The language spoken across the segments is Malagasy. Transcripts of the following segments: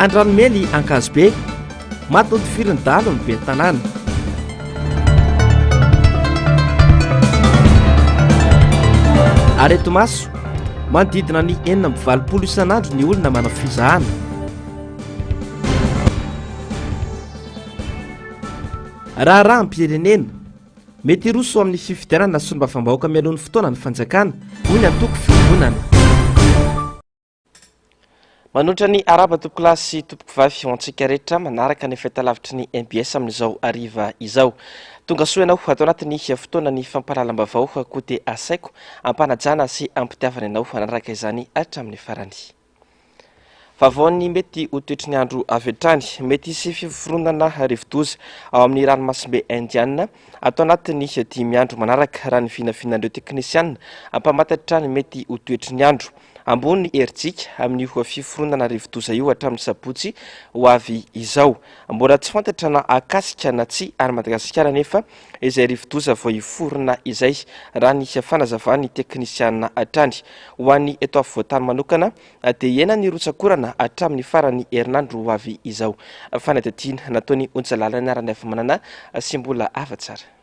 Andranomely Ankazobe, maty notifirin'ny dahalo ny ben'ny tanàna. Areti-maso, manodidina ny enina amby valopolo isan'andro ny olona manao fizahana. Raharaham-pirenena, Mety hiroso amin'ny fifidianana solombavambahoaka mialoha ny fotoana ny fanjakana, hoy ny antoko Fironana. Manoatra ny arahaba tompoko lahy sy tompoko vavy ho antsika rehetra manaraka ny fahitalavitry ny MBS amin'izao hariva izao. Tonga soa ianao ato anatin'ny fotoana ny fampahalalam-baovao koa dia asaiko ampanajana sy ampitiavana ianao hanaraka izany hatramin'ny farany. Vaovaon'ny mety ho toetry ny andro avy hatrany, mety hisy fiforonana rivodoza ao amin'ny ranomasimbe Indiana ato anatin'ny dimy andro manaraka, raha ny vinavinan'ireo teknisiana mpamantatra ny mety ho toetry ny andro. Ambony herijika amin'io fiforonana rivodoza io hatramin'ny sabotsy ho avy izao. Mbola tsy fantatra na hakasika na tsia an'i Madagasikara anefa izay rivodoza vao hiforona izay, raha ny fanazavan'ny teknisiana hatrany. Ho an'ny eto afovoantany manokana dia hihena ny rotsak'orana hatramin'ny faran'ny herinandro ho avy izao. Fanadihadiana nataon'ny onja lalina Raniavimanana sy mbola hava tsara.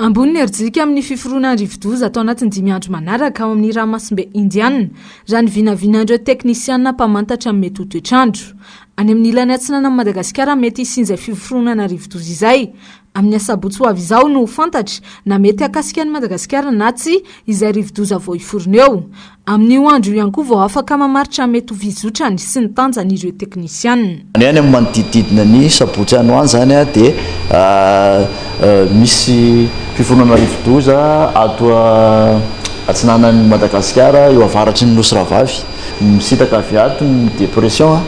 Ambony ny herijika amin'ny fiforonan'ny rivodoza atao anatin'ny dimy andro manaraka ao amin'ny ranomasimbe Indianina, raha ny vinavinan'ireo teknisiana mpamantatra ny mety ho toetr'andro. Any amin'ny ilany atsinanan'i Madagasikara mety hisian'izay fiforonana rivodoza izay, Amin'ny asabotsy ho avy izao no ho fantatra na mety hakasika an'i Madagasikara na tsia izay rivodoza vao hiforona eo. Amin'io andro io ihany koa vao afaka mamaritra mety ho fizotrany sy ny tanjany ireo teknisianina. Any amin'ny manodidididina ny sabotsy any ho any izany dia misy fiforonana rivodoza ato atsinanan'i Madagasikara, eo avaratry ny Nosy Rahavavy. Misintaka avy ato ny dépression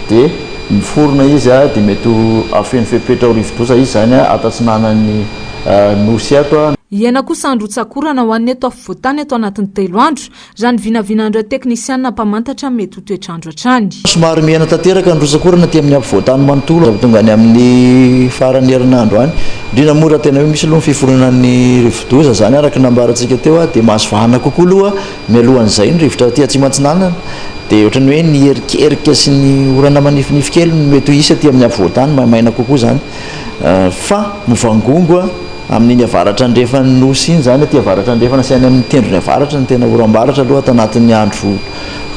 dia miforona izy dia mety ho afeno fepetra ho rivodoza izy izany ato atsinanan'ny Nosy ato. Hiaina kosa andro hotsakorana ho an'ny eto afovoantany ato anatin'ny telo andro, raha ny vinavinan'ireo teknisianina mpamantatra mety ho toetr'andro hatrany. Somary mihena tanteraka ny rotsak'orana aty amin'ny afovoantany manontolo raha vao tonga any amin'ny faran'ny herinandro any, indrindra moa raha tena hoe misy aloha ny fiforonan'ny rivodoza, izany araka ny nambarantsika teo dia mahazo vahana kokoa aloha Mialohan'izay, ny rivotra aty Atsimo Atsinanana dia ohatran'ny hoe ny erikerika sy ny orana manifinify kely no mety ho hisy aty amin'ny afovoan-tany, maimaina kokoa izany fa mivangongo amin'iny avaratra andrefan'ny Nosy iny izany, aty avaratra andrefana sy any amin'ny tendrony avaratra no tena oram-baratra aloha ato anatin'ny andro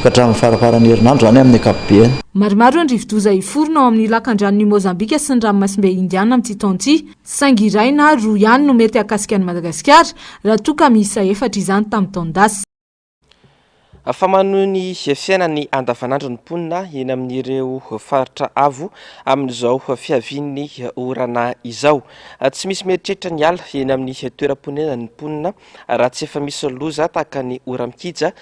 ka hatramin'ny faraparan'ny herinandro izany amin'ny ankapobeny. Maromaro ny rivodoza hiforona ao amin'ny lakandranon'i Mozambika sy ny ranomasimbe Indiana amin'ity taona ity. saingy iray na roa ihany no mety hahakasika an'i Madagasikara, raha toa ka miisa efatra izany tamin'ny taon-dasa. Fa manohy ny fiainany andavanandro ny mponina eny amin'ireo faritra avo amin'izao fiavian'ny orana izao. Tsy misy mieritreritra ny hiala eny amin'ny toeram-ponenany ny mponina raha tsy efa misy loza tahaka ny ora-mikija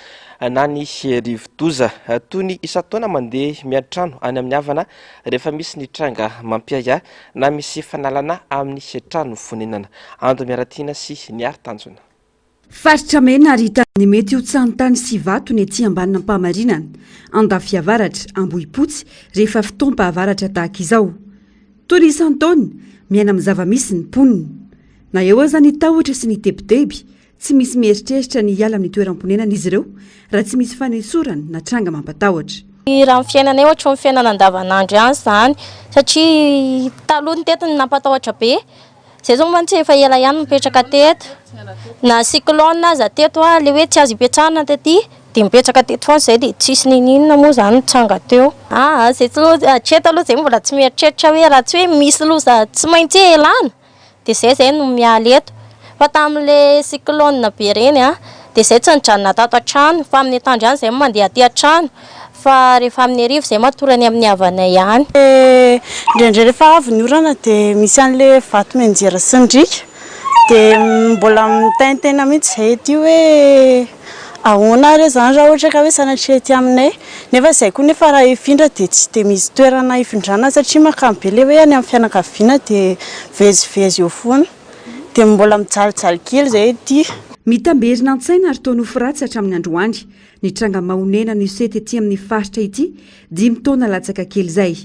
na ny rivo-doza. Toy ny isan-taona mandeha miantrano any amin'ny havana rehefa misy ny tranga mampiahiahy na misy fanalana amin'ny trano fonenana. Ando Miaratiana sy Niary Tanjona. Faritra mena ary hita ny mety ho tsaho-ny tany sy vato ny ety ambanin'Ampahamarinana, Andafiavaratra, Ambohipotsy rehefa fotoam-pahavaratra tahaka izao. Toy ny isan-taona, miaina amin'ny zava-misy ny mponina. Na eo aza ny tahotra sy ny tebiteby, tsy misy mieritreritra ny hiala amin'ny toeram-ponenana izy ireo raha tsy misy fanesorana na tranga mampatahotra. Raha ny fiainanay ohatry ny fiainana andavanandro ihany izany satria taloha ny tety no nampatahotra be Zay zao mantsy efa ela ihany mipetraka teto, na cyclone aza teto a, le hoe tsy azo ipetrahana taty de mipetraka teto foana zay de tsisy ninininona moa zany nitranga teo. Aa zay tsy loza, hatreto aloha zay mbola tsy mieritreritra hoe raha tsy hoe misy loza tsy maintsy ialana de zay zay no miala eto, fa tamin'le cyclone be reny a de zay tsy nijanona tato an-trano fa amin'ny atoandro ihany zay mandeha aty an-trano. Fa rehefa amin'ny hariva izay matorany amin'ny havanay ihany. Dia indraindray rehefa avy ny orana dia misy an'ilay vato mianjera sy ny riaka. Dia mbola mitaintaina mihitsy izay ety hoe ahoana ary izany raha ohatra ka hoe sanatria ety aminay. Nefa izay koa nefa raha hifindra dia tsy dia misy toerana hifindrana satria mankany be ilay hoe any amin'ny fianakaviana dia mivezivezy eo foana. Dia mbola mijalijaly kely izay ety. Mitamberina an-tsaina ary toa nofy ratsy hatramin'ny androany. Nitranga mahonenana io sety ity amin'ny faritra ity dimy taona latsaka kely izay.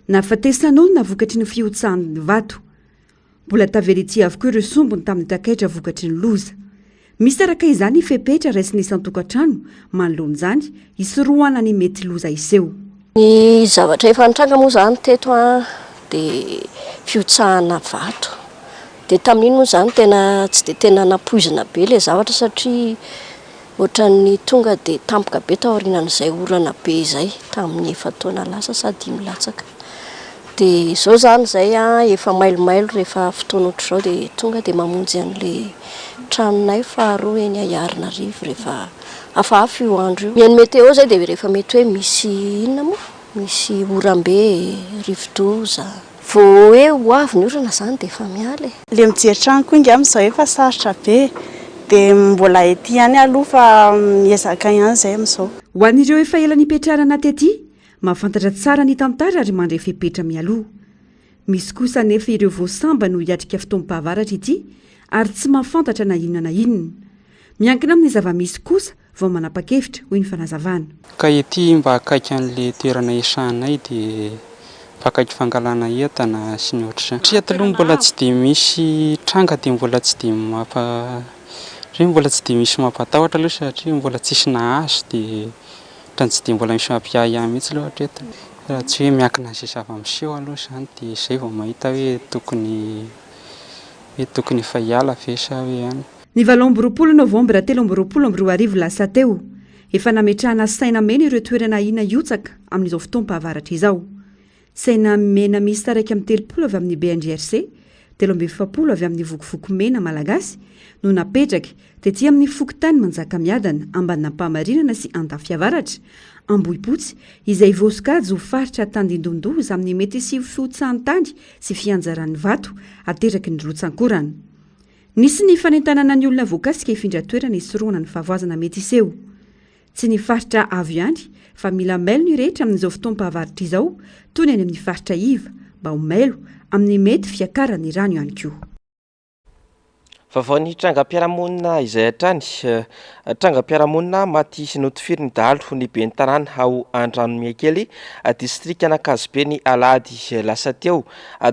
Nahafatesan'olona vokatry ny fihotsahan'ny vato. Mbola tavela ity avokoa ireo sombiny tamin'ny takaitra vokatry ny loza. Misaraka izany fepetra raisin'ny isan-tokantrano manoloana izany hisorohana ny mety loza hiseho. Ny zavatra efa nitranga moa izany teto dia fihotsahana vato. Dia tamin'iny moa izany tena tsy dia tena nampoizina be ilay zavatra satria ohatran'ny tonga dia tampoka be taorianan'izay orana be izay tamin'ny efa-taona lasa sa dimy latsaka. Dia izao izany izay efa mailomailo rehefa fotoana ohatr'izao dia tonga dia mamonjy an'ilay tranonay faharoa eny Ahiarinarivo rehefa Hafahafa io andro io. Mihaino météo zay dia rehefa mety hoe misy inona moa? Misy oram-be, rivodoza. Vao hoe ho avy ny orana izany dia efa miala e. Ilay mijery trano koa ingahy amin'izao efa sarotra be e. Dia mbola ety ihany aloha fa miezaka ihany izay amin'izao. Ho an'ireo efa ela nipetrarana tety, mahafantatra tsara ny tantara ary mandre fepetra mialoha. Misy kosa anefa ireo vao sambany ho hiatrika fotoam-pahavaratra ity ary tsy mahafantatra na inona na inona. Miankina amin'ny zava-misy kosa vao manapa-kevitra, hoy ny fanazavana. Ka ety mba akaiky an'ilay toerana iasanay dia mba akaiky fangalana entana sy ny ohatr'izany. Satria aty aloha mbola tsy dia misy tranga dia mbola tsy dia mampa satria mbola tsy dia misy mampatahotra aloha satria mbola tsisy nahazo dia ohatran'ny tsy dia mbola misy mampiahiahy mihitsy aloha hatreto raha tsy hoe miankina an'izay zava-miseho aloha izany dia izay vao mahita hoe tokony hoe tokony efa hiala ve sa hoe ahoana. Ny valo amby roapolo novambra telo amby roapolo amby roa arivo lasa teo, efa nametrahana saina mena ireo toerana ahiana hihotsaka amin'izao fotoam-pahavaratra izao. Saina mena miisa iraika amby telopolo avy amin'ny BNGRC, telo amby efapolo avy amin'ny Vokovoko Mena Malagasy no napetraka tety amin'ny fokontany Manjakamiadana, Ambanampahamarinana sy Andafiavaratra, Ambohipotsy, izay voasokajy ho faritra tandindomin-doza amin'ny mety hisivo fihotsahan-tany sy fianjaran'ny vato ateraky ny rotsankorana. Nisy ny fanentanana ny olona voakasika hifindra toerana hisorohana ny fahavoazana mety hiseho. Tsy ny faritra avo ihany fa mila mailo ny rehetra amin'izao fotoam-pahavaratra izao toy ny any amin'ny faritra iva mba ho mailo amin'ny mety fiakaran'ny rano ihany koa. Vaovao ny trangam-piarahamonina izay hatrany, trangam-piarahamonina maty sy notifirin'ny dahalo ny ben'ny tanàna ao Andranomihakely, distrikan'Ankazobe ny alahady lasa teo.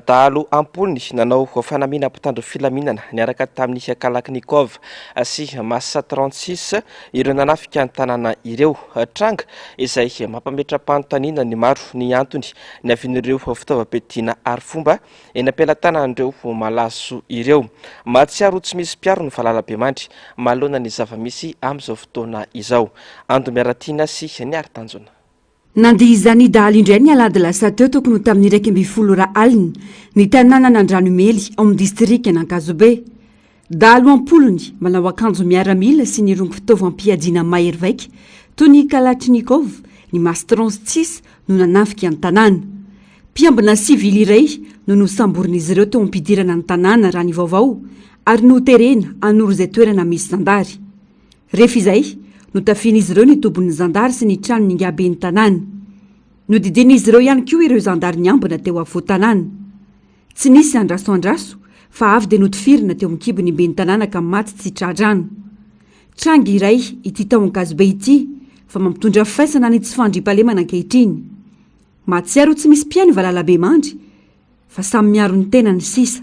Dahalo ampolony nanao fanamiana mpitandro filaminana niaraka tamin'ny Kalachnikov sy Massa trente six ireo nanafika ny tanàna ireo. Tranga izay mampametra-panontaniana ny maro ny antony niavian'ireo fitaovam-piadiana arifomba eny am-pelatanan'ireo malaso ireo. Mahatsiaro ho tsy misy mpiaro ny valalabemandry manoloana ny zava-misy amin'izao fotoana izao. Ando Miaratiana sy Niary Tanjona. Nandia izany dahalo indray ny alahady lasa teo tokony ho tamin'ny iraika ambin'ny folo ora alina, ny tanànan'Andranomely ao amin'ny distrikan'Ankazobe. Dahalo am-polony, manao akanjo miaramila sy nirongo fitaovam-piadiana mahery vaika toy ny kalachnikov, ny mastrons cis no nanafika ny tanàna. Mpiambina sivily iray no nosamborin'izy ireo teo am-pidirana ny tanàna raha ny vaovao ary noterena hanoro izay toerana misy zandary. Rehefa izay, notafihin'izy ireo ny tobin'ny zandary sy ny tranon'Ingahy Ben'ny tanàna. Nodidian'izy ireo ihany koa ireo zandary niambina teo afovoan-tanàna. Tsy nisy andrasoandraso fa avy dia notifirina teo an-kibony i Ben'ny tanàna ka maty tsy tra-drano. Tranga iray ity tao Ankazobe ity fa mampitondra faisana ny tsy fandriampahalemana ankehitriny. Mahatsiaro tsy misy mpihaino Valalabemandry. fa samy miaro ny tenany sisa.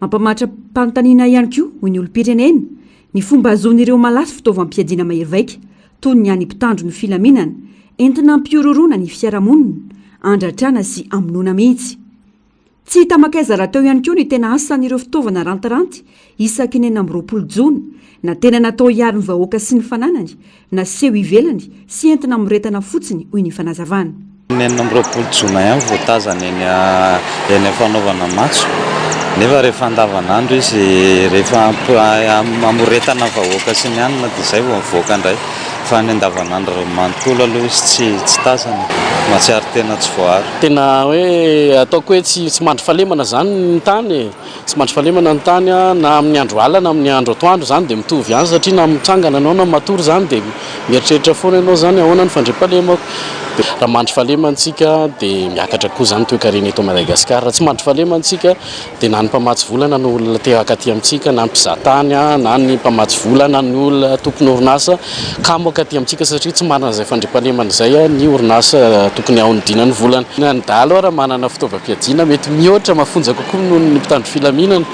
Mampamatram-panontaniana ihany koa, hoy ny olom-pirenena, ny fomba hahazoan'ireo malaso fitaovam-piadiana mahery vaika toy ny an'ny mpitandro ny filaminana, entina hampihorohoroana ny fiarahamonina, handratrana sy hamonoana mihitsy. Tsy hita makaiza rahateo ihany koa ny tena asan'ireo fitaovana rantiranty Isaky ny enina amby roapolo jona, na tena natao hiaro ny vahoaka sy ny fananany, na seho ivelany sy entina amoretana fotsiny, hoy ny fanazavana. Ny enina amby roapolo jona ihany vao tazana eny amin'ny fanaovana matso, nefa rehefa andavanandro izy, rehefa amoretana vahoaka sy ny anona dia izay vao mivoaka indray, fa ny andavanandro manontolo aloha izy tsy tazana, mahatsiaro tena tsy voaaro. Tena hoe ataoko hoe tsy mandry fahalemana izany ny tany e! Tsy mandry fahalemana ny tany na amin'ny andro alina na amin'ny andro atoandro, izany dia mitovy ihany satria na mitsangana ianao na matory izany dia mieritreritra foana ianao izany ahoana ny fandriampahalemako? Raha mandry fahalemana isika dia miakatra koa izany ny toekarena eto Madagascar, raha tsy mandry fahalemana isika dia na ny mpamatsy vola na ny olona te-hankaty amintsika na ny mpizahatany na ny mpamatsy vola na ny olona tompon'orinasa, Kamo ankatỳ amintsika satria tsy manana izay fandriampahalemana izay ny orinasa tokony haonidiana ny volany. Na ny dahalo ary manana fitaovam-piadiana mety mihoatra mafonja kokoa noho ny mpitandro filaminana.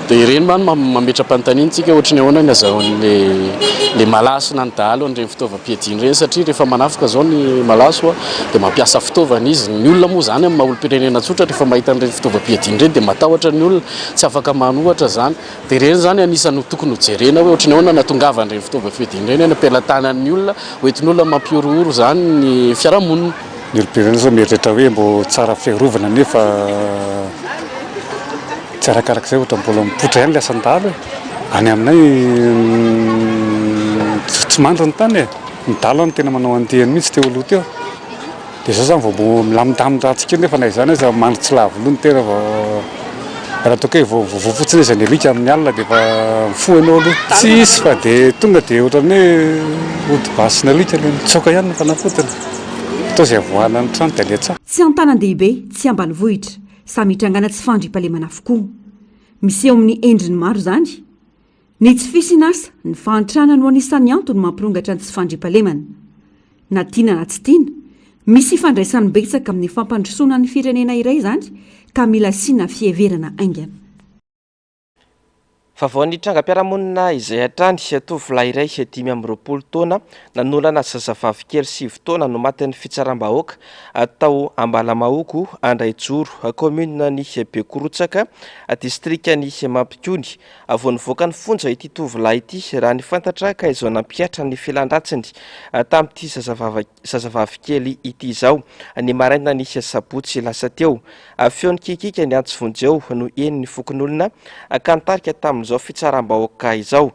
Dia ireny mantsy no mametra-panontaniana antsika ohatry ny ahoana ny azahoan'ilay malaso na ny dahalo an'ireny fitaovam-piadiany ireny satria rehefa manafika izao ny malaso dia mampiasa fitaovana izy. Ny olona moa izany amin'ny maha olom-pirenena tsotra rehefa mahita an'ireny fitaovam-piadiana ireny dia matahotra ny olona, tsy afaka manohatra izany. Dia ireny izany anisany ho tokony ho jerena hoe ohatran'ny ahoana no hahatongavany ireny fitaovana fiadiana ireny any am-pelatanan'ny olona, ho entin'olona mampihorohoro izany ny fiarahamonina. Ny olom-pirenena izao mieritreritra hoe mbô tsara fiarovana nefa tsy arakarak'izay ohatra mbola mipoitra ihany ilay asan-dahalo e! Any aminay tsy mandry ny tany e! Ny dahalo any tena manao andiany mihitsy teo aloha teo. Dia izao izany vao milamin-damin-dratsy kely nefa na izany aza mandry tsy lavo loha ny tena fa raha toa ka hoe vao voa fotsiny izy ny alika amin'ny alina dia efa mifoha ianao aloha. Tsy hisy fa dia tonga dia ohatran'ny hoe ody basin'ny alika ilay mitsoaka ihany ny fanafodiny. Toa izay avoahana ny trano dia aleha tsy antanan-dehibe, tsy ambanivohitra, samy hitrangana tsy fandriampahalemana avokoa. Miseho amin'ny endriny maro izany. Ny tsy fisian'asa, ny fahantrana no anisan'ny antony mampirongatra ny tsy fandriampahalemana. Na tiana na tsy tiana, misy ifandraisany betsaka amin'ny fampandrosoana ny firenena iray izany ka mila asiana fiheverana haingana. Vaovao ny trangam-piarahamonina izay hatrany, tovolahy iray dimy amby roapolo taona nanolana zazavavy kely sivy taona no matin'ny fitsaram-bahoaka tao Ambalamahoko, Andraijoro, kaominina ny Bekorotsaka, distrikan'i Mampikony, Vao nivoaka ny fonja ity tovolahy ity, raha ny fantatra, ka izao nampihatra ny fialan-dratsiny tamin'ity zazavavy kely ity izao, ny marainan'ny sabotsy lasa teo. Feo nikiakiaka ny antsy vonjeo no henon'ny fokonolona, ka nitarika tamin'izao fitsaram-bahoaka izao.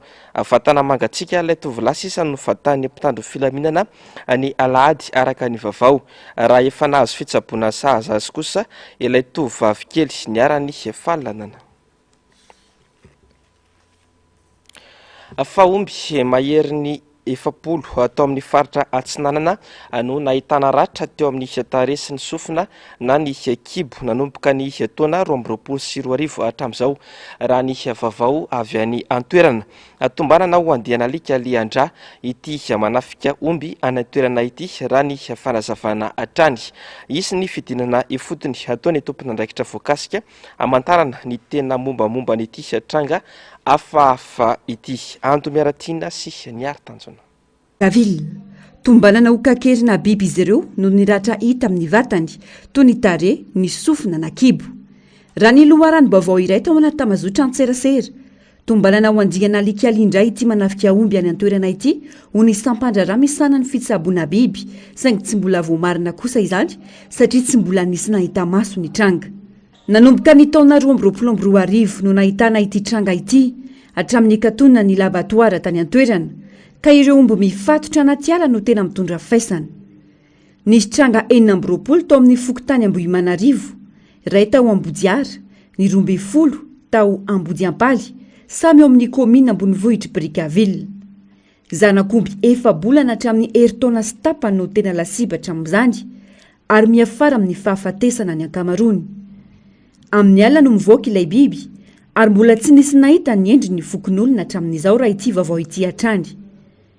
Vatana mangatsiaka ilay tovolahy sisa novatan'ny mpitandro filaminana ny alahady, araka ny vavao, raha efa nahazo fitsaboana sahaza azy kosa ilay tovovavy kely niharan'ny fahalanana. Fahomby maherin'ny efapolo tao amin'ny faritra Atsinanana no nahitana ratra teo amin'ny tarehy sy ny sofina na ny kibo nanomboka ny taona roa amby roapolo sy roa arivo hatramin'izao, raha ny vaovao avy any an-toerana. Tombanana ho andian'alika lian-drà ity manafika omby any an-toerana ity, raha ny fanazavana hatrany. Hisy ny fidinana ifotony, ataon'ny tomponandraikitra voakasika. hamantarana ny tena mombamomba an'ity tranga hafahafa ity. Ando Miaratiana sy Niary Tanjona. Gavil. Tombanana ho kakerina biby izy ireo noho ny ratra hita amin'ny vatany, toy ny tarehy, ny sofina na kibo. Raha ny loharanom-baovao iray tao anaty tamazotran-tserasera, Tombanana ho andiana alikaly indray ity manafika omby any an-toerana ity, hoy ny sampan-draharaha misahana ny fitsaboana biby, saingy tsy mbola voamarina kosa izany satria tsy mbola nisy nahita maso ny tranga. Nanomboka ny taona roa amby roapolo amby roa arivo no nahitana ity tranga ity, hatramin'ny hikatona ny labatoara tany an-toerana, ka ireo omby mifatotra anaty ala no tena mitondra faisana. Nisy tranga enina amby roapolo tao amin'ny fokontany Ambohimanarivo, iray tao Ambohijara, ny roa ambin'ny folo tao Ambodiampaly, samy ao amin'ny kaominina ambonivohitr'i Brickaville. Zanak'omby efa-bolana hatramin'ny herintaona sy tapany no tena lasibatra amin'izany ary miafara amin'ny fahafatesana ny ankamaroany. Amin'ny alina no mivoaka ilay biby ary mbola tsy nisy nahita ny endriny ny fokonolona hatramin'izao raha ity vaovao ity hatrany.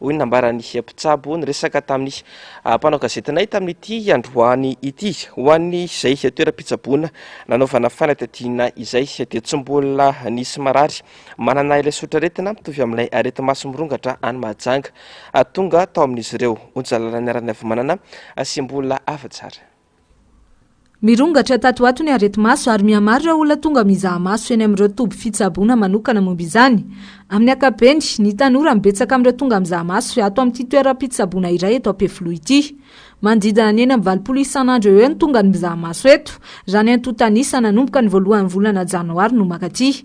hoy ny nambaran'ny mpitsabo niresaka tamin'ny mpanao gazetinay tamin'ity androany ity. Ho an'izay toeram-pitsaboana nanaovana fanadihadiana izay dia tsy mbola nisy marary manana ilay sotraretina mitovy amin'ilay areti-maso mirongatra any Mahajanga tonga tao amin'izy ireo. Onja lalana niara-niavomanana sy mbola afa-tsara. Mirongatra tato ho ato ny areti-maso ary mihamaro ireo olona tonga mizaha maso eny amin'ireo toby fitsaboana manokana momba izany. Amin'ny ankapobeny, ny tanora no betsaka amin'ireo tonga mizaha maso ato amin'ity toeram-pitsaboana iray eto Ampefiloha ity. Manodidina ny enina amby valopolo isan'andro eo eo ny tonga ny mizaha maso eto, raha ny antontan'isa nanomboka ny voalohan'ny volana janoary no mankaty.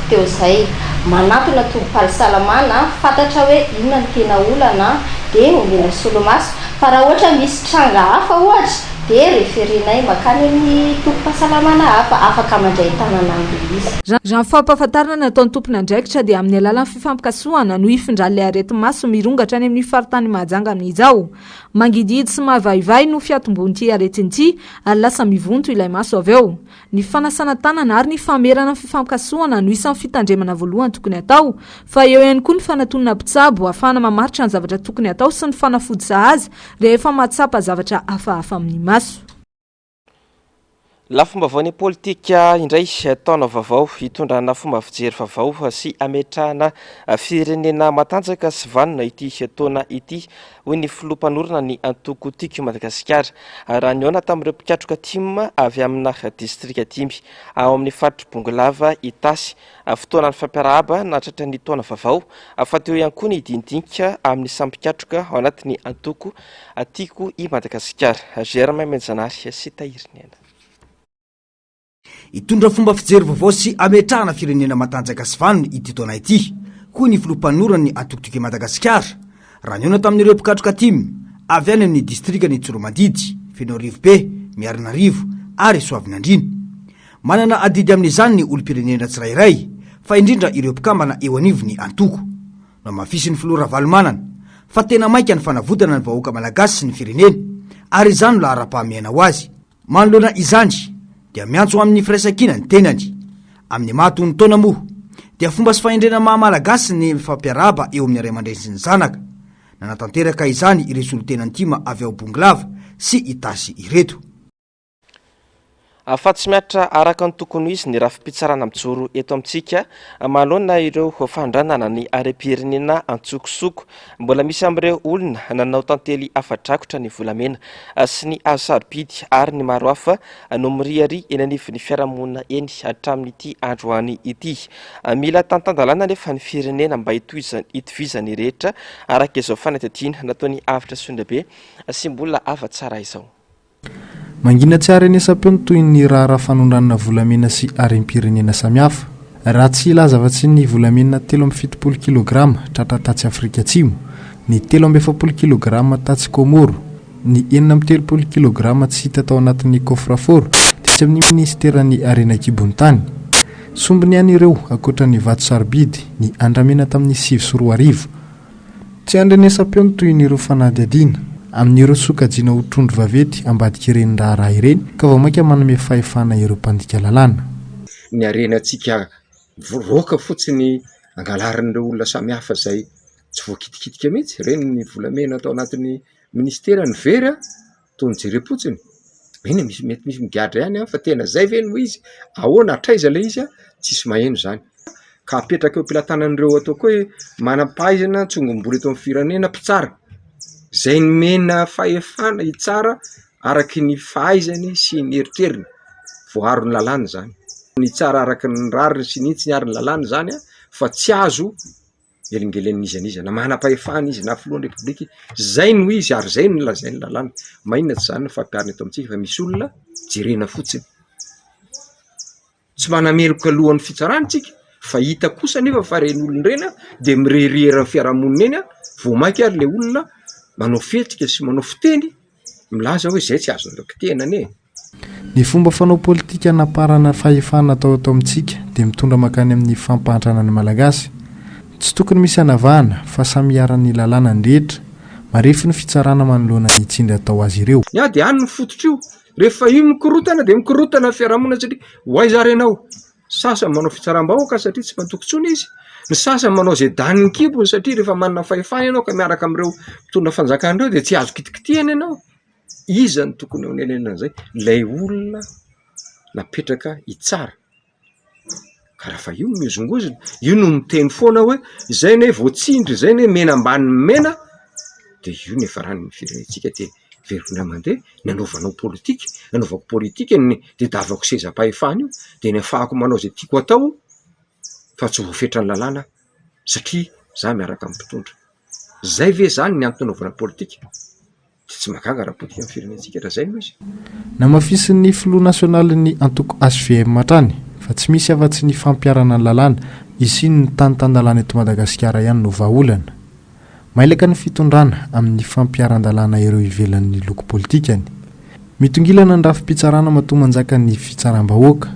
teo izay. Manantona tobim-pahsalamana, fantatra hoe inona no tena olana dia omena solomaso. Fa raha ohatra misy tranga hafa ohatra dia referenay mankany amin'ny tobim-pahasalamana hafa, afaka mandray tanana an'ilay izy. Raha ny fampahafantarana nataon'ny tompon'andraikitra dia amin'ny alalan'ny fifampikasohana no hifindran'ilay areti-maso mirongatra any amin'ny faritany Mahajanga amin'izao. Mangidihidy sy mavaivay no fiatombohan'ity aretina ity ary lasa mivonto ilay maso avy eo. Ny fanasana tanana ary ny famerana ny fifampikasohana no isan'ny fitandremana voalohany tokony hatao. Fa eo ihany koa ny fanatonana mpitsabo hahafahana mamaritra ny zavatra tokony hatao sy ny fanafody sahaza rehefa mahatsapa zavatra hafahafa amin'ny maso. Lafim-baovaon'ny politika indray, taona vaovao, itondrana fomba fijery vaovao sy ametrahana firenena matanjaka sy vanona ity taona ity hoy ny filoha mpanorina ny antoko Tiako i Madagasikara, raha nihaona tamin'ireo mpikatroka tim avy amina distrika dimy ao amin'ny faritr'i Bongolava, Itasy. Fotoana nifampiarahaba nahatratra ny taona vaovao fa teo ihany koa ny diandinika amin'ny samy mpikatroka ao anatin'ny antoko Tiako i Madagasikara. Germain Menjanary sy Tahirinena. Hitondra fomba fijery vaovao sy hametrahana firenena matanjaka sy vanona ity taona ity, hoy ny filoha mpanoran'ny Antokotoko i Madagasikara, raha nihaona tamin'ireo mpikatroka tim, avy any amin'ny distrikan'i Tsoromadidy, Fenoarivobe, Miarinarivo ary Soavinandriana. Manana adidy amin'izany ny olom-pirenena tsirairay, fa indrindra ireo mpikambana eo anivon'ny antoko. Nohamafisin'ny filoha Ravalomanana, fa tena maika ny fanavotana ny vahoaka malagasy sy ny firenena, ary izany no laharam-pahamehana ho azy. Manoloana izany dia miantso amin'ny firaisankina ny tenany. Amin'ny maha tony taona moa dia fomba sy fahendrena maha Malagasy ny mifampiarahaba eo amin'ny ray aman-dreny sy ny zanaka. Nanatanteraka izany ireto solontena ntima avy ao Bongolava sy Itasy ireto. Afa-tsy mihatra araka ny tokony ho izy ny rafi-pitsarana mijoro eto amintsika manoloana ireo fandranana ny harem-pirenena an-tsokosoko. Mbola misy amin'ireo olona nanao tantely afa-drakotra ny volamena sy ny hazo sarobidy ary ny maro hafa no miriaria eny anivon'ny fiarahamonina eny hatramin'ity androany ity. Mila tantan-dalàna anefa ny firenena mba hitovizan'ny rehetra araka izao fanadihadiana nataon'i Avotra Sondrabe sy mbola hafa tsara izao. Mangina tsy haharenesam-peo ny tohin'ny raharaha fanondranana volamena sy harem-pirenena samihafa. Raha tsy hilaza afa-tsy ny volamena telo amby fitopolo kilograma tratra tatsy Afrika Atsimo, ny telo amby efapolo kilograma tatsy Kômôro, ny enina amby telopolo kilograma tsy hita tao anatin'ny kôfrafôro tetsy amin'ny minisiteran'ny harena an-kibon'ny tany. Sombiny ihany ireo, ankoatra ny vato sarobidy, ny andramena tamin'ny sivy sy roa arivo. Tsy handrenesam-peo ny tohin'ireo fanadihadiana, amin'ireo sokajiana ho trondro vaventy ambadik'ireny raharaha ireny, ka vao mainka manome fahefana ireo mpandika lalàna. Ny harenantsika mivoaka fotsiny angalarin'ireo olona samihafa izay tsy voakitikitika mihitsy, ireny ny volamena tao anatin'ny minisitera, ny very a! toa nijerem-potsiny, eny e, misy mety misy migadra ihany an! fa tena izay ve no izy? ahoana? hatraiza ilay izy an? tsisy maheno izany ka apetraka eo am-pelatanan'ireo atao koa hoe manam-pahaizana tsongombolo eto amin'ny firenena mpitsara izay nomena fahefana hitsara araky ny fahaizany sy ny eritreriny, voaro ny lalàna izany, ny hitsara araky ny rariny sy ny hitsiny ary ny lalàna izany an! fa tsy azo. velingelen' iza n'iza na manam-pahefana izy na filohan'ny repoblika izy, izay no izy ary izay no lazain'ny lalàna, maninona tsy izany no fampiharina eto amintsika fa misy olona jerena fotsiny, tsy manameloka lohan'ny fitsarana isika fa hita kosa anefa fa ireny olona ireny an dia mirehareha eo amin'ny fiaraha-monina eny an, vao mainka ary ilay olona manao fihetsika sy manao fiteny milaza hoe izay tsy azony raha-pitehina anie e! Ny fomba fanao politika hanaparana fahefana atao eto amintsika dia mitondra mankany amin'ny fampahantrana ny Malagasy. Tsy tokony misy hanavahana fa samy iharan'ny lalàna ny rehetra. Marefo ny fitsarana manoloana ny tsindry atao azy ireo. Ny ady ihany no fototr'io. Rehefa io mikorontana dia mikorontana ny fiarahamonina satria ho aiza ary ianao? Ny sasany manao fitsaram-bahoaka satria tsy mandoko intsony izy. Ny sasany manao izay danin'ny kibony satria rehefa manana fahefana ianao ka miaraka amin'ireo mpitondra fanjakana ireo dia tsy azo kitikitihina ianao. Iza no tokony hanenenana an'izay? Ilay olona napetraka hitsara. Ka raha fa io no mihozongozona, io no miteny foana hoe izay anie vao tsindry, izay anie mena ambany mena, dia io no hiafarany ny firenentsika dia velona mandeha. Ny anaovanao politika, ny anaovako politika, ny tadiavako sezam-pahefana io dia ny ahafahako manao izay tiako atao fa tsy voafetran'ny lalàna satria izaho miaraka amin'ny mpitondra. Izay ve izany ny antony anaovana politika? Dia tsy mahagaga raha potika ny firenentsika raha izay no izy. Namafisin'ny filoha nasionalin'ny antoko HVM hatrany fa tsy misy afa-tsy ny fampiharana ny lalàna, izy ny tany tan-dalàna eto Madagasikara ihany no vahaolana. Mailaka ny fitondrana amin'ny fampiharan-dalàna ireo ivelan'ny loko politikany. Mitongilana ny rafi-pitsarana matoa manjaka ny fitsaram-bahoaka.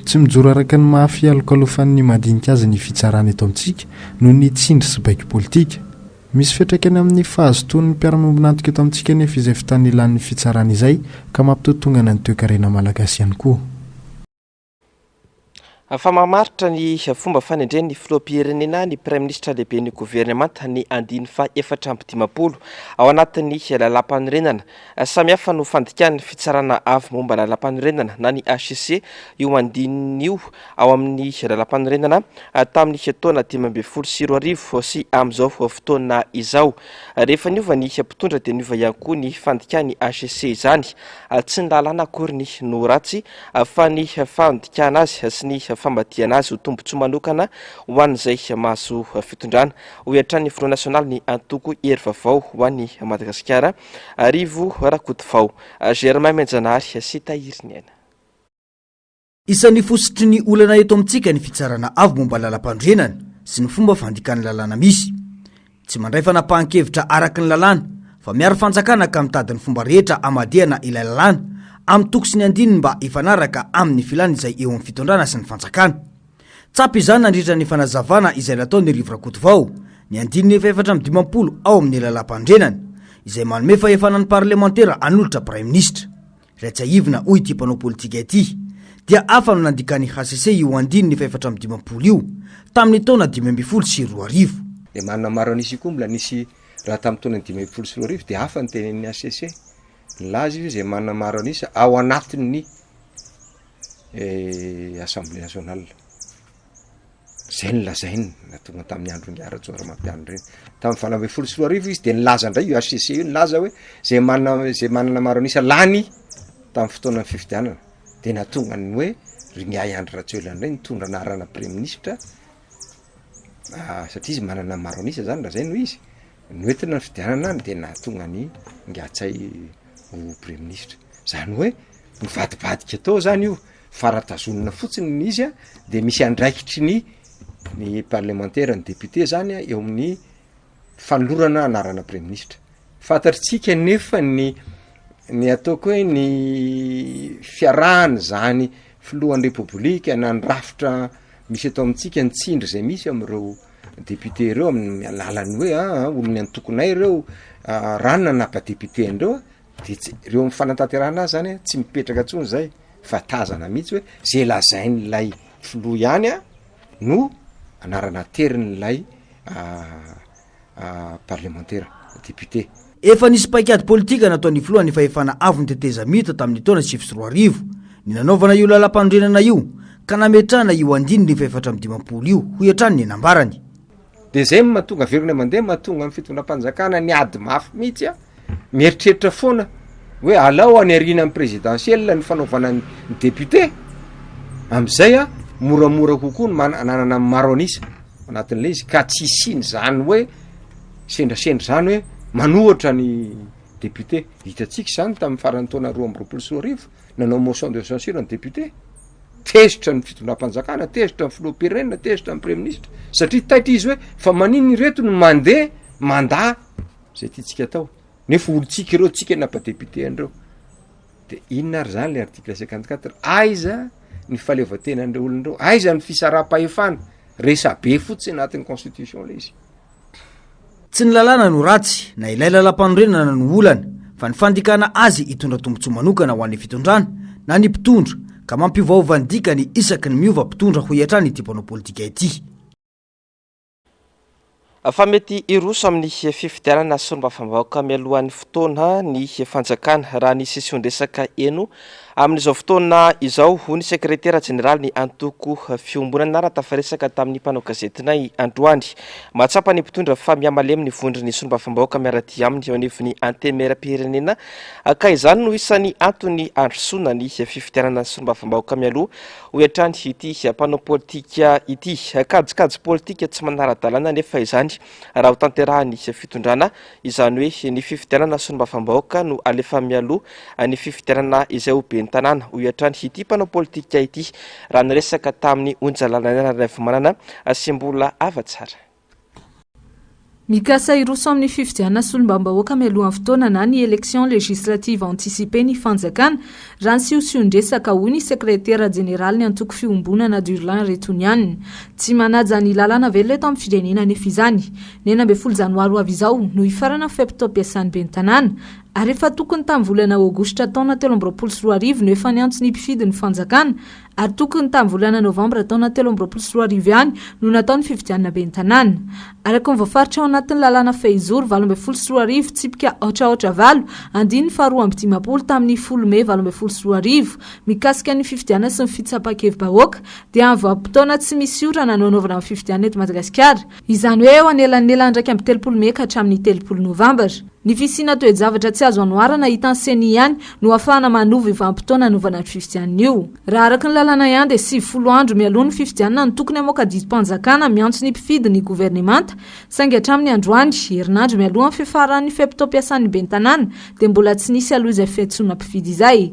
Tsy mijoro araka ny maha fialokalofan'ny madinika azy ny fitsarana eto amintsika noho ny tsindry sy baiko politika. Misy fiantraikany amin'ny fahazotoan'ny mpiara-miombon'antoka eto amintsika anefa izay fotoana ilan'ny fitsarana izay ka mampitotongana ny toekarena malagasy ihany koa. Fa mamaritra ny fomba fanendren'ny filoham-pirenena ny praiminisitra lehiben'ny governemanta ny andiany faha efatra amby dimampolo ao anatin'ny lalàmpanorenana Samihafa no fandikan'ny Fitsarana Avo momba ny Lalàmpanorenana na ny HCC io andininy io ao amin'ny Lalàmpanorenana tamin'ny taona dimy ambin'ny folo sy roa arivo sy amin'izao fotoana izao. Rehefa niova ny mpitondra dia niova ihany koa ny fandikan'ny HCC izany. Tsy ny lalàna akory ny no ratsy fa ny fandikana azy sy ny famadihana azy ho tombontsoa manokana ho an'izay mahazo fitondrana, hoy hatrany ny Filoha nasionalin'ny antoko Hery Vaovao ho an'i Madagasikara, Arivo Rakotovao, Germain Mianjanahary sy Tahirin'Aina. Isan'ny fositry ny olana eto amintsika ny fitsarana avo momba ny lalampanorenana sy ny fomba fandikan'ny lalàna misy. Tsy mandray fanapahan-kevitra araka ny lalàna fa miaro fanjakana ka mitady ny fomba rehetra hamadihana ilay lalàna amin'ny toko sy ny andininy mba hifanaraka amin'ny filan'izay eo amin'ny fitondrana sy ny fanjakana. Tsapa izany nandritra ny fanazavana izay nataon'ny Rivo Rakotovao, ny andininy efahefatra amby dimampolo ao amin'ny Lalàmpanorenana, izay manome fahefana ny parlemantera hanolotra Praiminisitra. Raha tsiahivina, hoy ity mpanao politika ity, dia hafa no nandikan'ny hcc io andininy efahefatra amby dimampolo io, tamin'ny taona dimy ambin'ny folo sy roa arivo. Dia marina maro an'isa koa mbola nisy raha tamin'ny taona dimy ambin'ny folo sy roa arivo, dia hafa ny tenenin'ny hcc. Nilaza izy hoe izay manana maro an'isa ao anatin'ny Assemblée nationale. Zay no lazainy na tonga tamin'ny andron'i Rajaonarimampianina ireny. Tamin'ny valo ambin'ny folo sy roa arivo izy dia nilaza indray io HCC io nilaza hoe zay manana zay manana maro an'isa lany tamin'ny fotoanan'ny fifidianana. Dia nahatonga ny hoe ry Miahy Andry Rajoelina indray nitondra anarana Praiministra satria izy manana maro an'isa zany lazainy hoe izy. Noentina ny fidianana no dia nahatonga an'i Ngatsahy ho praiminisitra. Izany hoe nivadibadika tao izany io, fa raha tazonina fotsiny ny izy dia misy andraikitry ny ny parlemantera, ny député izany eo amin'ny fanolorana anarana praiminisitra. Fantatritsika anefa ny ny ataoko hoe ny fiarahana izany filohan'ny Repoblika na ny rafitra misy eto amintsika ny tsindry izay misy amin'ireo Député ireo amin'ny alalan'ny hoe a olon'ny antokonay ireo raha ny nanapa député an'ireo de tsy ireo amin'ny fanatanterahana azy zany tsy mipetraka intsony zay fa tazana mihitsy hoe ze lazain'ilay filoha ihany a no anarana aterin'ilay parlemantera député. Efa nisy paikady politika nataon'ny filohan'ny fahefana avon'ny tetezamita tamin'ny taona sivy sy roa arivo ny nanaovana io lalampanorenana io ka nametrahana io andininy fahefatra amby dimampolo io, hoy hatrany ny nambarany. Deuxième mahatonga velona mandeha mahatonga amin'ny fitondram-panjakana ny ady mafy mihitsy an! Mieritreritra foana hoe alao any aoriana amin'ny présidentielle ny fanaovana ny député, amin'izay an, moramora kokoa ny manana ny maro an'isa. anatin'ilay izy ka tsy hisiany zany hoe sendrasendra zany hoe manohatra ny député hitantsika izany tamin'ny faran'ny taona roa amby roapolo sy roa arivo nanao motion de censure ny député tezitra ny fitondram-panjakana tezitra ny filoham-pirenena tezitra ny praiministra satria taitra izy hoe fa maniny ireto ny mandeha manda izay tiantsika atao nefa olontsika ireo tsika napa député an'ireo De inona ary zany le article cinquante quatre? Aiza ny fahaleovantenan'ireo olona ireo? Aiza ny fisaraham-pahefana? Resabe fotsiny anatin'ny constitution le izy. Tsy ny lalàna no ratsy, na ilay lalampanorenana no olana, fa ny fandikana azy hitondra tombontsoa manokana ho an'ny fitondrana, na ny mpitondra, ka mampiovaova ny dikany isaky ny miova mpitondra hoy hatrany ity mpanao politika ity. fa mety hiroso amin'ny fifidianana solombavambahoaka mialohan'ny fotoana ny fanjakana raha ny sesion-dresaka heno amin'izao fotoana izao, hoy ny sekretera jeneralin'ny antoko Fiombonana raha tafaresaka tamin'ny mpanao gazetinay androany. Mahatsapa ny mpitondra fa mihamalemy ny vondron'ny solombavambahoaka miara-dia aminy eo anivon'ny Antemieram-pirenena ka izany no isan'ny antony handrosoana ny fifidianana solombavambahoaka mialoha Hoy hatrany ity mpanao politika ity. Kajikajy politika tsy manara-dalàna anefa izany raha ho tanterahan'ny fitondrana, izany hoe ny fifidianana solombavambahoaka no alefa mialoha ny fifidianana izay ho ben'ny tanàna, hoy hatrany ity mpanao politika ity raha niresaka tamin'ny Onjalalainarivmanana sy Mbola Hava Tsara. Mikasa hiroso amin'ny fifidianana solombavambahoaka mialohan'ny fotoana na ny élections législatives anticipées ny fanjakana, raha ny siosion-dresaka, hoy ny sekretera jeneralin'ny antoko Fiombonana Durlin Retoniana. Tsy manaja ny lalàna velona eto amin'ny firenena anefa izany. Ny enina ambin'ny folo janoary ho avy izao no hifarana ny fe-potoam-piasan'ny ben'ny tanàna, ary efa tokony tamin'ny volana aogositra taona telo amby roapolo sy roa arivo no efa niantso ny mpifidy ny fanjakana ary tokony tamin'ny volana novambra taona telo amby roapolo sy roa arivo ihany no natao ny fifidianana ben'ny tanàna. Araka ny voafaritra ao anatin'ny lalàna Fehizoro valo ambin'ny folo sy roa arivo, tsipika aotraotra valo, andininy faharoa amby dimampolo tamin'ny folo mey valo ambin'ny folo sy roa arivo, mikasika ny fifidianana sy ny fitsapan-kevi-bahoaka, dia amin'ny vanim-potoana tsy misy orana no hanaovana ny fifidianana eto Madagasikara, izany hoe eo anelanelan'ny iraika amby telopolo mey ka hatramin'ny telopolo novambra. Ny fisiana toe-javatra tsy azo anoharana hitan'ny ceni ihany no hahafahana manova io vanim-potoana hanaovana ny fifidianana io. Raha araka ny lalàna ihany dia sivifolo andro mialoha ny fifidianana no tokony hamoaka didim-panjakana miantso ny mpifidy ny governemanta saingy hatramin'ny androany, herinandro mialohan'ny fiafaran'ny fe-potoam-piasan'ny ben'ny tanàna, dia mbola tsy nisy aloha izay fiantsoana mpifidy izay.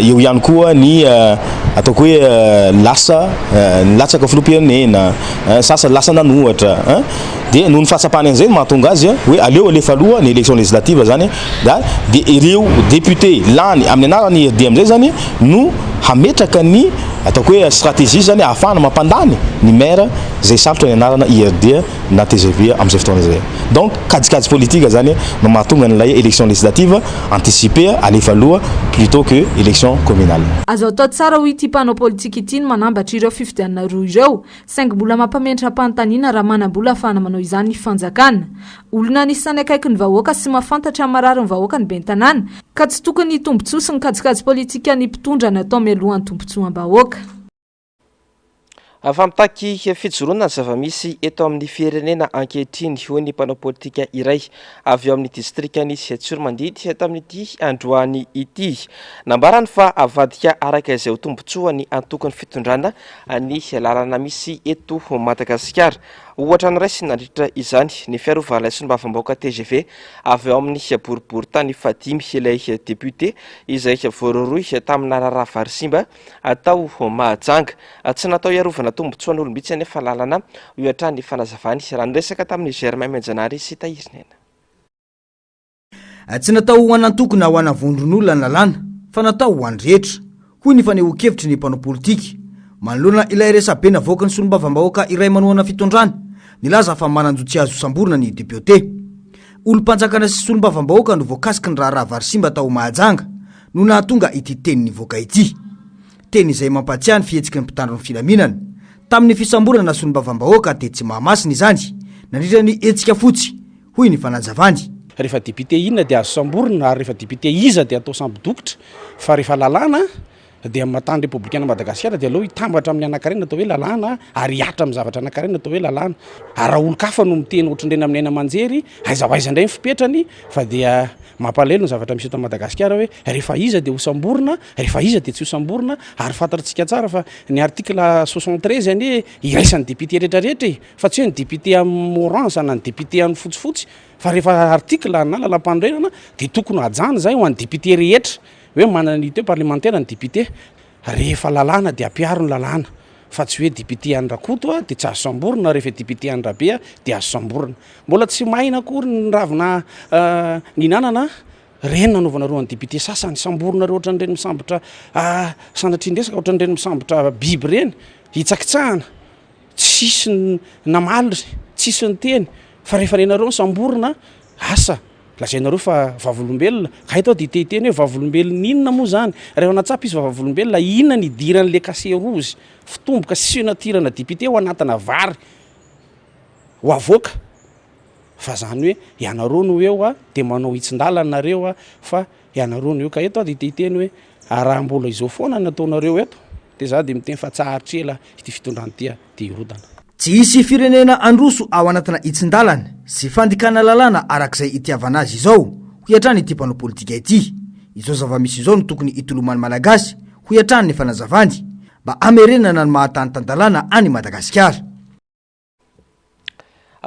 eo ihany koa ny ataoko hoe lasa nilatsaka filoham-pirenena, sasany lasa nanohatra, dia noho ny fahatsapany an'izay no mahatonga azy hoe aleo alefa aloha ny élection législative zany dia ireo député lany amin'ny anaran'ny IRD amin'izay zany no hametraka ny ataoko hoe stratégie zany ahafahana mampandany ny maire izay salotra ny anarana IRD. na tgv amin'izay fotoana izay. Donc kajikajy politique zany no mahatonga an'ilay élection législative anticipée alefa aloha plutôt que élection communale. Azo atao tsara hoy ity mpanao politika ity ny manambatra ireo fifidianana roa ireo, saingy mbola mampamendram-panontaniana raha manam-bola ahafahana manao izany ny fanjakana. Olona anisan'ny akaiky ny vahoaka sy mahafantatra ny mararin'ny vahoaka ny ben'ny tanàna, ka tsy tokony ny tombontsoa sy ny kajikajy politikan'ny mpitondra no atao mialohan'ny tombontsoam-bahoaka. Fa mitaky fijoroana ny zava-misy eto amin'ny firenena ankehitriny, hoy ny mpanao politika iray avy ao amin'ny distrikan'i Tsiatsiromandidy tamin'ity androany ity. Nambarany fa avadika araka izay ho tombontsoa ny antokon'ny fitondrana ny lalana misy eto Madagasikara. Ohatra niraisiny nandritra izany ny fiarovan'ilay solombavambahoaka tgv avy ao amin'ny boriborintany fahadimy ilay depiote izay voarohirohy tamina raharaha vary simba atao Mahajanga. Tsy natao hiarovana tombontsoan'olo mihitsy anefa lalana io hatrany ny fanazavany raha niresaka tamin'i Germain Mianjanahary sy Tahirinena. Tsy natao ho an'antoko na ho ana vondron'olona ny lalàna fa natao ho an'ny rehetra, hoy ny fanehoan-kevitry ny mpanao politika. Manoloana ilay resabe navoaky ny solombavambahoaka iray manohana fitondrana, nilaza fa manan-jo tsy azo samborina ny depiote. Olom-panjakana sy solombavambahoaka no voakasiky ny raharaha vary simba tao Mahajanga, no nahatonga ity teny nivoaka ity. Teny izay mampahatsiahy ny fihetsiky ny mpitandro ny filaminana tamin'ny fisamborana solombavambahoaka tetsy Mahamasina izany nandritra ny hetsika fotsy, hoy ny fanazavany. Rehefa député inona dia azo samborina ary rehefa député iza dia atao sambo dokotra fa rehefa lalàna dia matan'ny repoblikan'i Madagasikara dia aleo hitambatra amin'ny anankarena atao hoe lalàna ary hihatra amin'ny zavatra anankarena atao hoe lalàna ary raha olon-kafa no miteny ohatrin'ireny amin'ny haina aman-jery Aiza ho aiza indray ny fipetrany fa dia mampalahelo ny zavatra misy eto Madagasikara hoe rehefa iza dia hosamborina, rehefa iza dia tsy hosamborina ary fantantsika tsara fa ny article soixante treize anie iraisan'ny député rehetra rehetra e! fa tsy hoe ny député amin'ny orange na ny député amin'ny fotsifotsy fa rehefa article na lalampanorenana dia tokony hajana izay ho an'ny député rehetra hoe manana unité parlementaire ny député. Rehefa lalàna dia ampiaro ny lalàna fa tsy hoe député an'i Rakoto aho dia tsy azo samborina rehefa i député an'i Rabe aho dia azo samborina. Mbola tsy maina akory ny ravina nihinanana ireny nanaovanareo an'i député sasany. Samborinareo ohatran'ireny misambotra sanatrian-dresaka, ohatran'ireny misambotra biby ireny hitsakitsahana. Tsisy ny namaly ry tsisy niteny fa rehefa nenareo nisamborina asa lazainareo fa vavolombelona ka eto aho dia te hiteny hoe vavolombelona inona moa izany rahefa natsapa izy fa vavolombelona inona ny idiran'ilay kase rozy fitomboka signature-na député ho anatina vary ho avoaka fa izany hoe ianareo no eo a dia manao hitsin-dalana nareo a fa ianareo no eo ka eto aho dia te hiteny hoe raha mbola izao foana ny ataonareo eto Dia izaho dia miteny fa tsaharitra ela ity fitondrana ity a! Dia hirodana. Tsy hisy firenena handroso ao anatina hitsin-dalana sy fandikana lalàna araka izay itiavana azy izao, hoy hatrany ity mpanao politika ity. Izao zava-misy izao no tokony hitoloman'ny Malagasy, hoy hatrany ny fanazavany, mba hamerenana ny maha tany tan-dalàna an' i Madagasikara.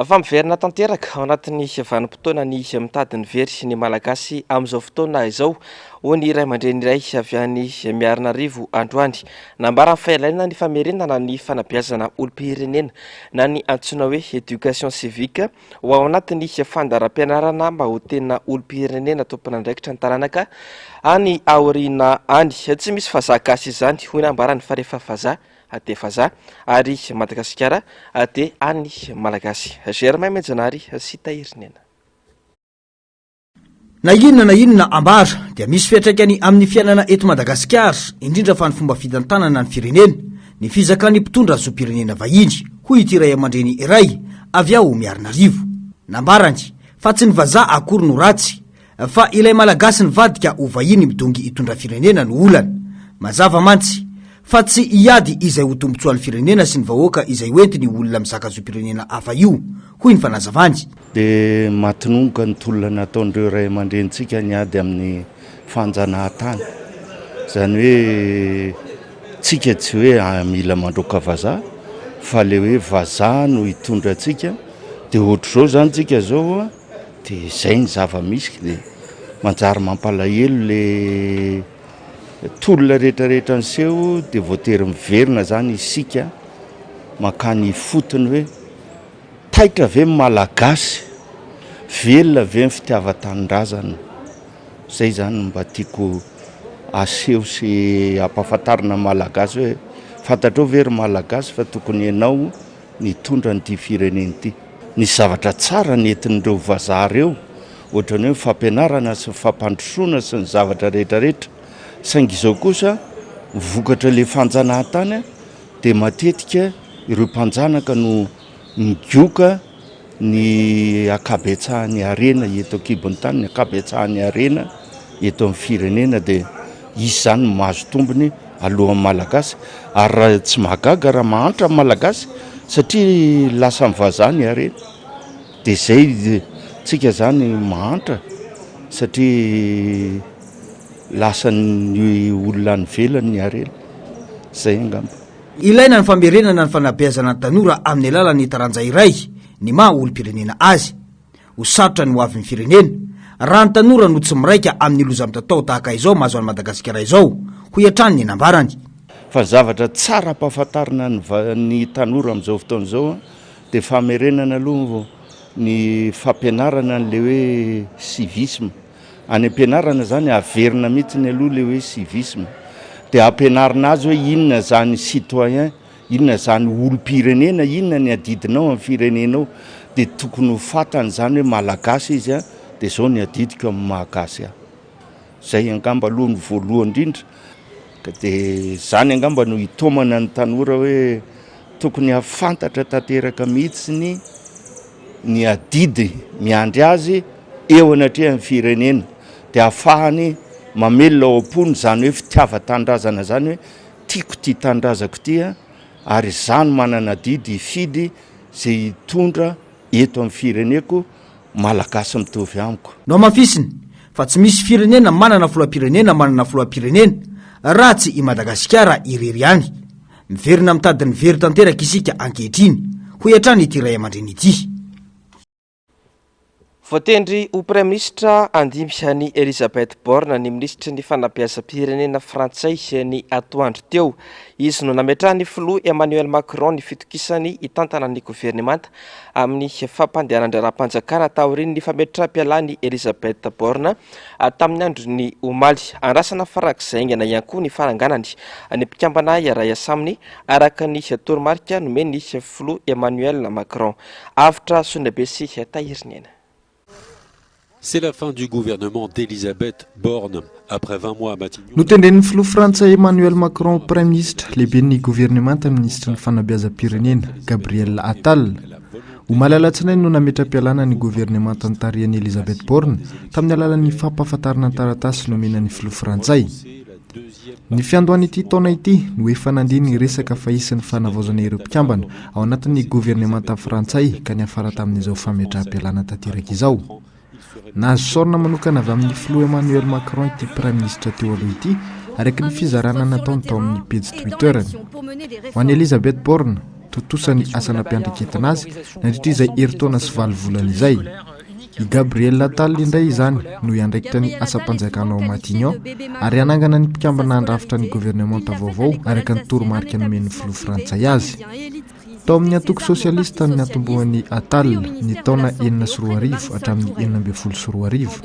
Fa miverina tanteraka ao anatin'ny vanim-potoana ny mitady ny very ny Malagasy amin'izao fotoana izao, hoy ny ray aman-dreny iray avy any Miarinarivo androany. Nambarany fa ilaina ny famerenana ny fanabeazana olom-pirenena na ny antsoina hoe éducation civique ho ao anatin'ny fandaharam-pianarana mba ho tena olom-pirenena tompon'andraikitra ny taranaka any aoriana any. Tsy misy vazaha gasy izany, hoy ny ambarany fa rehefa vazaha dia vazaha ary Madagasikara dia an'ny Malagasy. Germain Mejanary sy Tahirinena. Na inona na inona ambara dia misy fiatraikany amin'ny fiainana eto Madagasikara, indrindra fa ny fomba fitantanana ny firenena, ny fizakan'ny mpitondra zom-pirenena vahiny, hoy ity ray aman-dreny iray avy ao Miarinarivo. Nambarany fa tsy ny vazaha akory no ratsy Fa ilay Malagasy nivadika ho vahiny midongy hitondra firenena no olana. Mazava mantsy, fa tsy hiady izay ho tombotsoan'ny firenena sy ny vahoaka izay hoentiny io olona mizaka zom-pirenena hafa io, hoy ny fanazavany. Dia matinongoka ny tolona nataon'ireo ray aman-drenintsika ny ady amin'ny fanjanahantany. Izany hoe tsika tsy hoe mila mandroaka vazaha fa ilay hoe vazaha no hitondra antsika dia ohatr'izao izany tsika izao. De zay ny zava misy de manjary mampalahelo le tolona rehetra rehetra niseho de voatery miverina zany isika makany ifotony hoe taitra ve ny malagasy? Velona ve ny fitiavan-tanindrazana? Zay zany no mba tiako aseho sy ampahafantarina ny malagasy hoe fantatrao ve ry malagasy fa tokony enao nitondra an'ity firenena ity. Nisy zavatra tsara nentin'ireo vazaha ireo, ohatran'ny hoe ny fampianarana sy ny fampandrosoana sy ny zavatra rehetra rehetra. Saingy izao kosa, ny vokatr'ilay fanjanahantany dia matetika ireo mpanjanaka no migoka ny ankabetsahan'ny harena eto an-kibon'ny tany, ny ankabetsahan'ny harena eto amin'ny firenena dia hisy izany no mahazo tombony alohan'ny Malagasy ary raha tsy mahagaga raha mahantra ny Malagasy satria lasan'ny vazaha ny harena dia izay tsika izany mahantra satria lasan'ny olona any ivelany ny harena, izay angamba. Ilaina ny famerenana ny fanabeazana ny tanora amin'ny alalan'ny taranja iray ny maha olom-pirenena azy. Ho sarotra ny ho avin'ny firenena, raha ny tanora no tsy miraika amin'ny loza mitatao tahaka izao mahazo an'i Madagasikara izao, hoy hatrany ny nambarany. Fa zavatra tsara ampahafantarina ny va, ny tanora amin'izao fotoana izao an, dia famerenana aloha ny fampianarana an'ilay hoe civisme. Any ampianarana zany averina mitsiny aloha le hoe civisme de ampianarina azy hoe inona zany citoyen, inona zany olom-pirenena, inona ny adidinao amin'ny firenenao de tokony ho fatany zany hoe malagasy izy an de zao ny adidiko amin'ny mahagasy ahy. Zay angamba aloha no voalohany indrindra. Ka dia izany angamba no hitaomana ny tanora hoe tokony hahafantatra tanteraka mihitsy ny ny adidy miandry azy eo anatrehan'ny firenena dia hahafahany mamelona ao am-pony izany hoe fitiavan-tanindrazana izany hoe tiako ity tanindrazako ity a ary izaho no manana adidy hifidy izay hitondra eto amin'ny fireneko Malagasy mitovy amiko. Nohamafisiny fa tsy misy firenena manana filohampirenena manana filohampirenena raha tsy i Madagasikara irery ihany. Miverina amin'ny tadiny very tanteraka isika ankehitriny, hoy hatrany ity ray aman-dreny ity. Voatendry ho Praiminisitra andimby an'i Elisabeth Borne ny Minisitry ny Fanabeazam-pirenena frantsay ny atoandro teo. Izy no nametrahan'ny Filoha Emmanuel Macron ny fitokisany hitantana ny governemanta amin'ny fampandehanan-draharaham-panjakana taorian'ny fametram-pialan'i Elisabeth Borne tamin'ny andron'ny omaly. Andrasana farak'izay haingana ihany koa ny faranganany ny mpikambana iray asaminy, araka ny toromarika nomen'ny filoha Emmanuel Macron. Avotra Soniabe sy Tahirinena. Notendren'ny filoha frantsay Emmanuel Macron ho praiminisitra, lehiben'ny governemanta ny minisitry ny fanabeazam-pirenena, Gabriel Attal. Omaly alatsinainy no nametra-pialana ny governemanta notarihan'i Elisabeth Borne tamin'ny alalan'ny fampahafantarana ny taratasy nomena ny filoha frantsay. Ny fiandohan'ity taona ity no efa nandia ny resaka fahisin'ny fanavaozana ireo mpikambana ao anatin'ny governemanta frantsay ka niafara tamin'izao fametraham-pialana tanteraka izao. Nahazo saorina manokana avy amin'ny filoha Emmanuel Macron ity praiminisitra teo aloha ity araka ny fizarana nataony tao amin'ny pejy Twitter-ny. Ho an'i Elisabeth Borne, tontosa ny asa nampiandraiketana azy nandritra izay herintaona sy valo volana izay. I Gabriel Attal indray izany no hiandraikitra ny asam-panjakana ao Matignon ary hanangana ny mpikambana handrafitra ny governemanta vaovao araka ny toromarika nomen'ny filoha frantsay azy. Tao amin'ny antoko sosialista ny natombohan'i Attal ny taona enina sy roa arivo hatramin'ny enina ambin'ny folo sy roa arivo.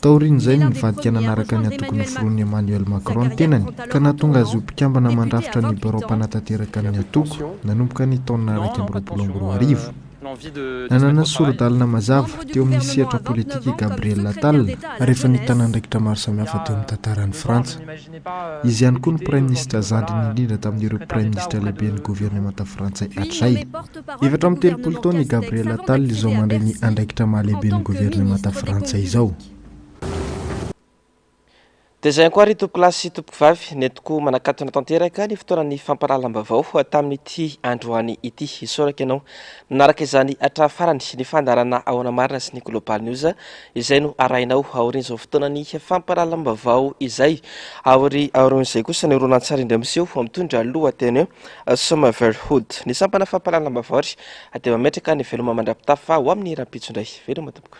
Taorian'izay no nivadika nanaraka ny antoko noforonin'i Emmanuel Macron ny tenany ka nahatonga azy ho mpikambana mandrafitra ny birao mpanatanteraka ny antoko nanomboka ny taona iraika amby roapolo amby roa arivo. Nanana sori-dalana mazava teo amin'ny sehatra politika i Gabriel Attal rehefa nitana andraikitra maro samihafa teo amin'ny tantaran'i Frantsa. Izy ihany koa no praiminisitra zandriny indrindra tamin'ireo praiminisitra lehiben'ny governemanta frantsay hatrany. Efatra amby telopolo taona i Gabriel Attal izao mandray ny andraikitra maha-lehiben'ny governemanta frantsay izao. Dia izay ankoary tompokolahy sy tompokovavy, nentiko manakatona tanteraka ny fotoanan'ny fampahalalam-baovao tamin'ity androany ity. Isaorako ianao nanaraka izany hatramin'ny farany ny fandaharana ao Ana Marina sy ny Global News izay no arahinao aorian'izao fotoanan'ny fampahalalam-baovao izay. Aori- Aorian'izay kosa ny horonantsary indray miseho mitondra ny lohateny hoe Somervillehood. Ny sampana fampahalalam-baovao ary dia mametraka ny veloma mandra-pitafa ho amin'ny rahampitso indray. Veloma tompoko.